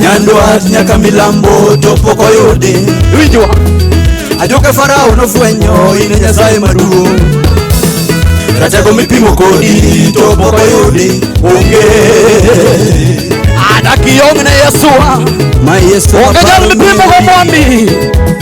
nyandwat nyaka milambo to pok oyudi winjwa ajoke farao nofwenyo in e nyasaye maduong' ratego mipimo kodi to pok oyudi onge adakiyong' ne yesua ma yesu onge jal mipimogo mwandi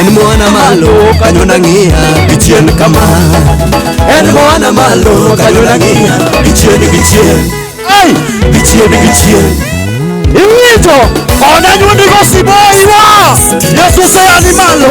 en mwana malo kanyo nang'iya gichien kama en mwana malo kanyo nang'iya gichien gichien ai gichien gichien iwinjo ona nyuondigo siboiwa yesu seyani malo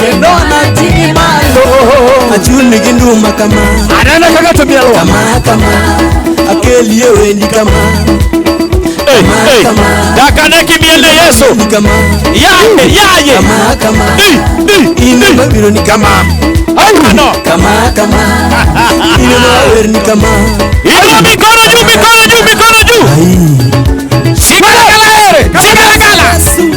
kendo anating'i malo achulni gi nduma kama anena kaka to mielo kama kama akelie wendi kama Hey, hey. dakane kimiel ne yesu ni kama yaye yaye kama kama Di, di, di. ine mabiro ni kama Ayuno. kama kama ine mawer ni kama Inua mikono juu, mikono juu, mikono juu. Ai. Shika kala, shika kala.